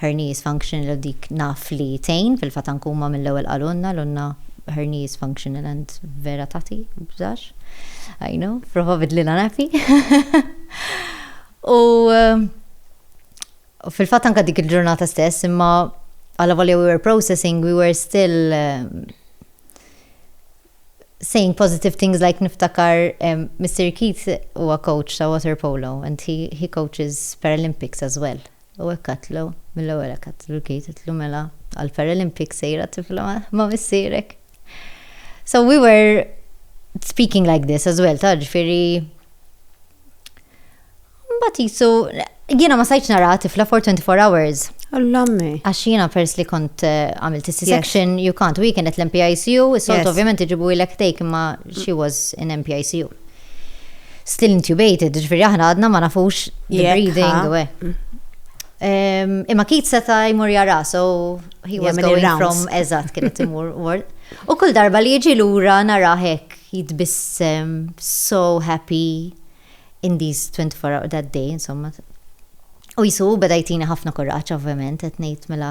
Hernies functional dik naf li tgħin fil-fatankuma mill-ewwel qalulna l-unna hernies functional and vera tagħti bżax. I know, prova bidlilha nappy. U fil-fatt anke dik il-ġurnata stess imma għala volja we were processing we were still saying positive things like niftakar um, Mr. Keith huwa coach ta' water polo and he, he coaches Paralympics as well. U hekk għadtlu, mill-ewwel hekk għadtlu l-Kate, għidtlu mela għall-Paralympics sejra tifla ma' missierek. So we were speaking like this as well, taf ġifieri Mbagħad qisu jiena ma sajtx nara tifla for 24 hours. Allammi. Għax
jiena pers li
kont eh, għamilt is-section, you can't, u kienet l-MPICU, is-solt ovvjament iġibu ilek take imma she was in MPICU. Still intubated, ġifiri aħna għadna ma nafux li breathing u Imma kit seta jmur jara, so he was going from eżat kienet imur ward. U kull darba li jiġi lura nara hekk jitbissem so happy in these 24 hours that day, insomma. U jisu beda jtini ħafna kuraċ, ovvjament, qed ngħid mela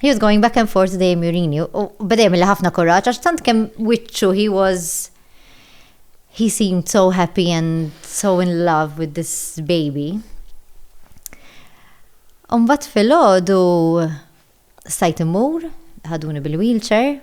He was going back and forth dejjem jurini u beda jagħmel ħafna kuraġġ għax tant kemm wiċċu he was he seemed so happy and so in love with this baby. Umbat fil-ħodu stajt imur, ħaduni bil-wheelchair,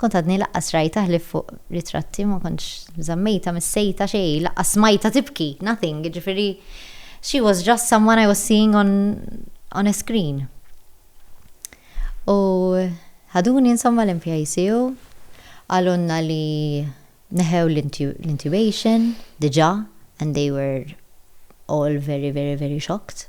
Kont għadni laqqas rajtha ħlief fuq ritratti ma kontx żammejtha mis-sejta xejn laqqas smajtha tibki, nothing, jiġifieri she was just someone I was seeing on on a screen. U ħaduni insomma l-MPICU, qalulna li neħew l-intubation diġà and they were all very very very shocked.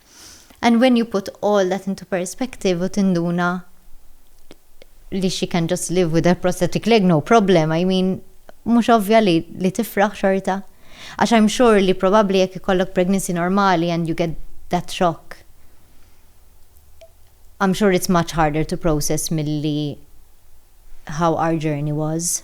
And when you put all that into perspective u tinduna li she can just live with a prosthetic leg, no problem, I mean, mhux ovvja li, li tifraħ xorta. Għax I'm sure li probabbli jekk ikollok pregnancy normali and you get that shock, I'm sure it's much harder to process milli how our journey was.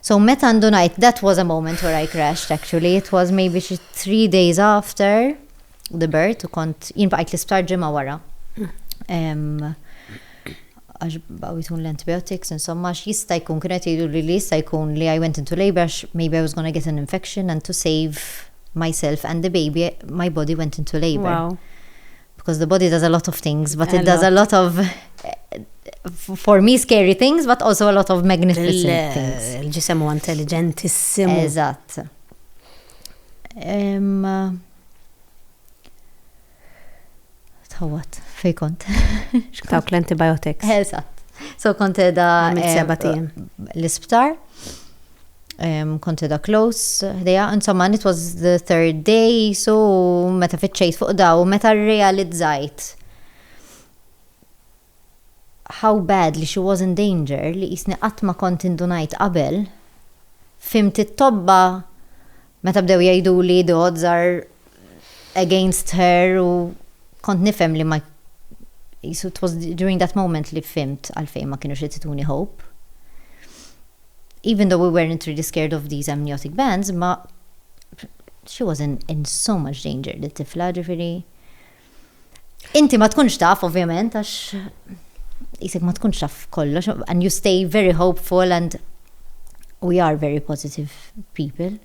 So meta għandu ngħid that was a moment where I crashed actually, it was maybe xi three days after the birth u kont jien baqajt l-isptar ġimgħa wara. Għax baqgħu l-antibiotics, insomma, jista' jkun kienet jgħidu li li jista' jkun li I went into labor għax maybe I was gonna get an infection and to save myself and the baby my body went into labor.
because the
body does a lot of things, but it does a lot of for me scary things, but also a lot of magnificent things. Il-ġisem huwa
intelligentissimu.
Eżatt. Tawat, fej kont. Xkawk
l-antibiotics. Eżatt.
So kont edha. L-isptar. um, kont edha close, ħdeja, insomma, it was the third day, so meta fitxejt fuq daw, meta realizzajt how bad li she was in danger li jisni qatt ma kont indunajt qabel, fimt it-tobba Meta bdew jgħiduli the odds are against her u kont nifhem li ma qisu it was during that moment li fhimt għalfejn ma kinux qed ituni hope. Even though we weren't really scared of these amniotic bands ma she was in, in so much danger di tifla ġifieri. Inti ma tkunx taf, ovvjament, għax jisek ma tkunx taf kollox, and you stay very hopeful and we are very positive people.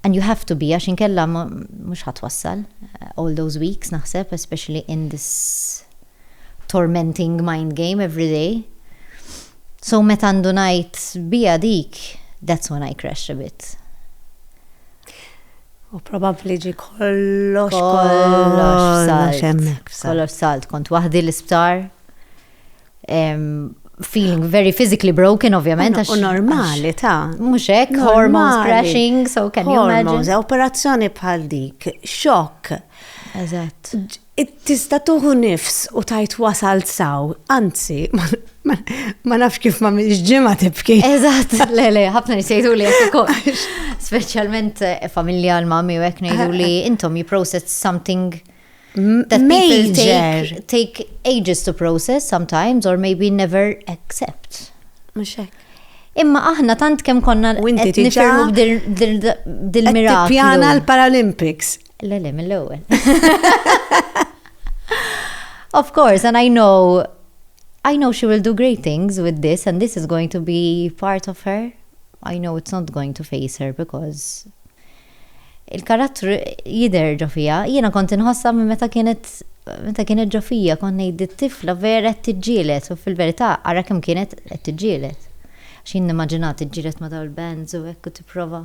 And you have to be, għax inkella mux ħatwassal eh, all those weeks naħseb, especially in this tormenting mind game every day. So meta għandu najt bija dik, that's when I crash a bit.
U probabbli ġi kollox kollox salt. Hemmhekk
f'salt. Kollox salt, kont waħdi l-isptar. Em, Feeling very physically broken, ovvjament. għax- U normali
ta' Mhux hekk, Normali.
hormones crashing, so can you imagine? Hormones, operazzjoni
bħal dik, xokk. Eżatt.
Ġ- Tista'
tuħu nifs u tgħid wasalt saw, anzi, ma nafx kif ma mhix ġimgħa tibki. Eżatt, le le,
ħafna nies jgħiduli hekk ukoll. Speċjalment eh, familja l mami u hekk ngħiduli intom you process something that people take, take ages to process sometimes or maybe never accept. Mhux hekk.
Imma aħna
tant kemm konna qed nifirmu dil-miraklu. Pjana l-Paralympics.
Le, le,
mill-ewwel. Of course, and I know I know she will do great things with this and this is going to be part of her. I know it's not going to face her because il-karattru jider ġofija. Jiena kont inħossa minn meta kienet meta kienet ġofija kont ngħid it-tifla vera qed tiġġielet u fil-verità ara kemm kienet qed tiġġielet. X'in nimmaġinat tiġġielet ma' dawn il-bands u hekk u tipprova.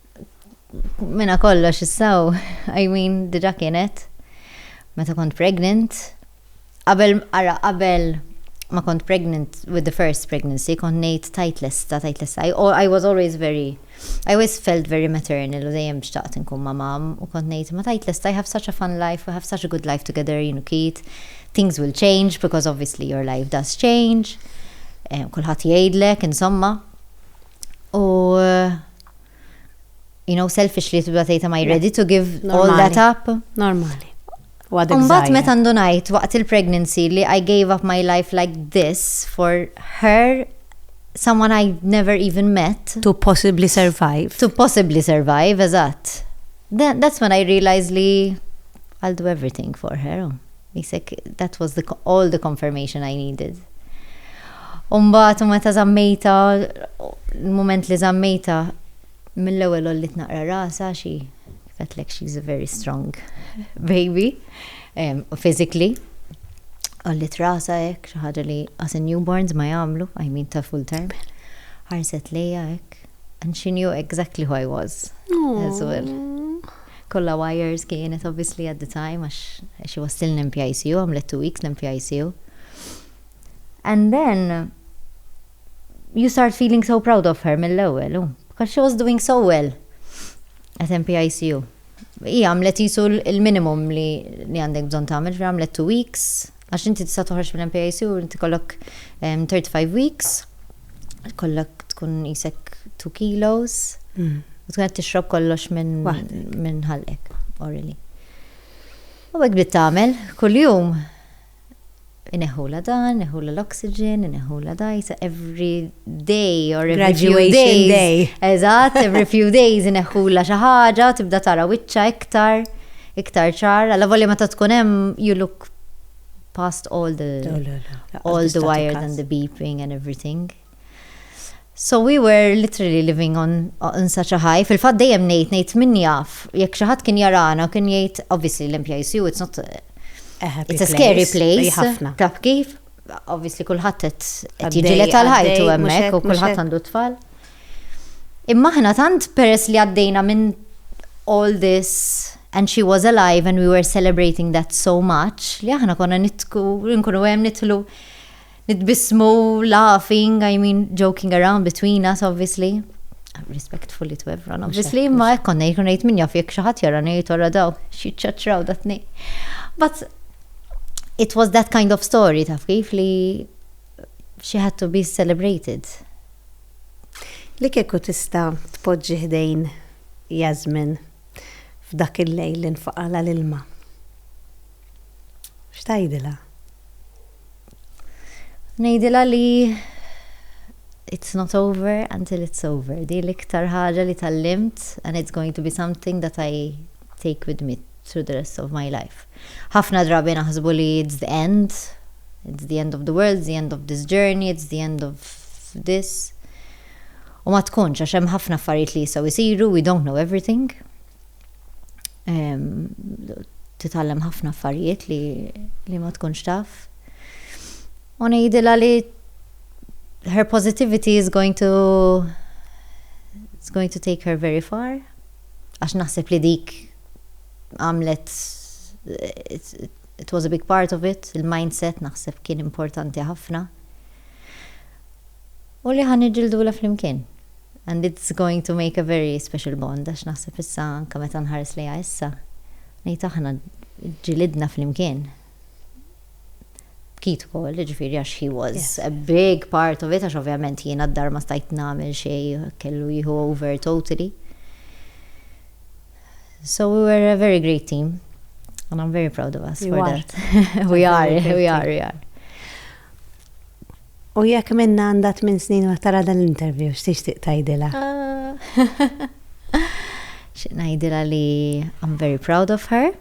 Mena kollox issaw, I mean, diġa kienet, meta kont pregnant, qabel, ara, qabel ma kont pregnant with the first pregnancy, kont nejt tajt lesta, tajt lesta, I, I was always very, I always felt very maternal u dejjem xtaqt nkun ma mam, u kont nejt ma tajt lesta, I have such a fun life, we have such a good life together, jien u Keith, things will change because obviously your life does change, eh, kulħadd jgħidlek, insomma. U, you know, selfish li tibda tgħid am I ready to give all that up? Normali.
Umbat
meta ndunajt waqt il-pregnancy li I gave up my life like this for her someone I never even met. To possibly
survive. To possibly survive,
eżatt. That's when I realized li I'll do everything for her. Misek, That was the all the confirmation I needed. U mbagħad u meta żammejtha, l-mument li żammejtha, mill-ewwel għolliet naqra rasha għax hi kif għedtlek she is a very strong baby physically. Għolliet rasha hekk, xi ħaġa li us in newborns ma jagħmlu, I mean ta' full term. Ħarset lejja hekk. And she knew exactly who I was as well. Kollha wires kienet obviously at the time għax she was still in NPICU, għamlet two weeks l-NPICU. And then you start feeling so proud of her mill-ewwel, u. Because she was doing so well at NPICU. Hija għamlet qisu l-minimum li għandek bżonn tagħmel, għamlet two weeks, Għax inti tista' toħroġ mill-MPAC u inti jkollok 35 weeks, jkollok tkun qisek 2 kilos, u tkun qed tixrob kollox minn ħalqek, orally. U hekk bdiet tagħmel, kuljum ineħħulha dan, ineħħulha l-oxygen, ineħħulha dajs, every day or every few days. Graduation day. Eżatt,
every few
days ineħħulha xi ħaġa, tibda tara wiċċa iktar, iktar ċar. Alla volja meta tkun hemm, you look past all the all the wires and the beeping and everything. So we were literally living on, on such a high. Fil-fat dejjem nejt, nejt min jaf, jek xaħat kien jarana, kien jgħid, obviously l-MPICU, it's not, it's a scary place. Taf kif? Obviously kullħat qed jiġilet tal-ħajtu hemmhekk u kullħat għandu tfal. Imma aħna tant peress li għaddejna minn all this and she was alive and we were celebrating that so much li aħna konna nidku nkunu hemm nidħlu nitbissmu laughing, I mean joking around between us obviously. Respectfully to everyone obviously, imma hekk konna jkun ngħid min jaf jekk xi ħadd jara ngħid ora daw xi ċaċraw datni. But it was that kind of story taf kif li she had to be celebrated.
Li kieku tista' tpoġġi ħdejn Yasmin f'dak il-lejl li nfaqagħlha l-ilma, x'tgħidilha? Ngħidilha li
it's not over until it's over. Din l-iktar ħaġa li tgħallimt and it's going to be something that I take with me through the rest of my life. Ħafna drabi naħsbu li it's the end, it's the end of the world, it's the end of this journey, it's the end of this. U ma tkunx, għax hemm ħafna affarijiet li jistgħu jsiru, we don't know everything. Titgħallem ħafna affarijiet li, li ma tkunx taf. U ngħidilha li her positivity is going to it's going to take her very far. għax naħseb li dik għamlet it was a big part of it, il-mindset naħseb kien importanti ħafna. U li ħan iġildula flimkien. And it's going to make a very special bond, għax naħseb issa anka meta nħares lejha issa, ngħid aħna ġilidna flimkien. bkit ukoll, jiġifieri għax he was a big part of it għax ovvjament jiena d-dar ma stajt nagħmel xejn kellu jieħu over totally. So we were a very great team and I'm very proud of us for that. We
are,
we are, we are.
U jekk minna għandat minn snin waqt tara dan l-interview, x'tixtieq tgħidilha?
Ah. X'najdila li I'm very proud of her.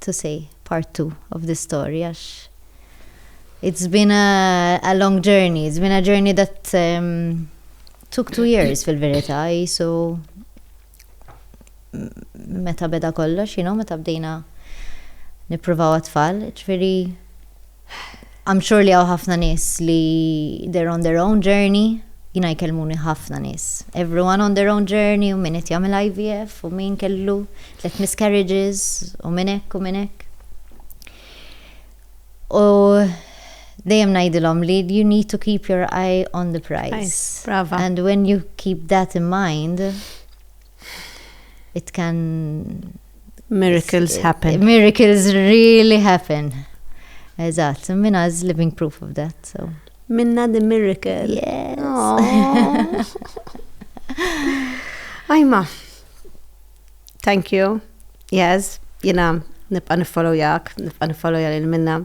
to say part two of this story għax it's been a, a long journey, it's been a journey that um, took two years fil-verità, so meta beda kollox, you know, meta bdejna nipruvaw għatfall, ġveri I'm sure li hawn ħafna nies li they're on their own journey, jiena jkellmuni ħafna nies. Everyone on their own journey u min qed jagħmel IVF u min kellu tliet miscarriages u minn hekk u minn hekk. U dejjem ngħidilhom li you need to keep your eye on the prize. Brava. And
when you keep
that in mind, it can Miracles
happen. Miracles really
happen. Eżatt, minna is living proof of that. So. Minna the
miracle. Yes. Ajma. Thank you. Yes, jina nibqa nifollow jak, nibqa nifollow jgħal minna.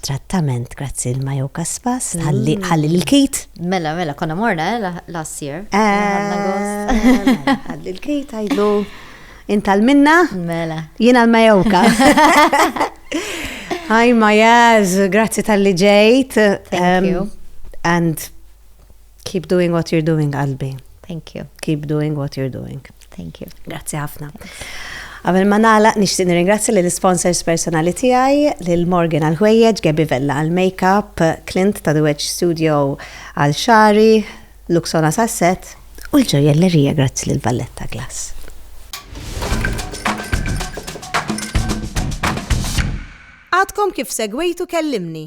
trattament grazzi l Majo Kaspas, ħalli ħalli l-kit. Mela, mela, konna
morna, eh, la- last year. Ħadna gost. Eh,
Ħalli l-kit għajdu intal minna, Mela. jiena
l-Majoka.
Hi Majaz, grazzi tal-li ġejt. Thank Em, you.
And
Keep doing what you're doing, qalbi. Thank you. Keep
doing what you're
doing. Thank you. Grazzi
ħafna.
Għamil ma nala, nishtiq nirringrazzja li l-sponsors personali tijaj, li l-Morgan għal-ħwejjeġ, Gabi Vella għal-makeup, Clint ta' The Wedge Studio għal-xari, Luxona Sasset, u l-ġoja l-lerija grazzi li l-Valletta Glass. Għadkom kif segwejtu kellimni.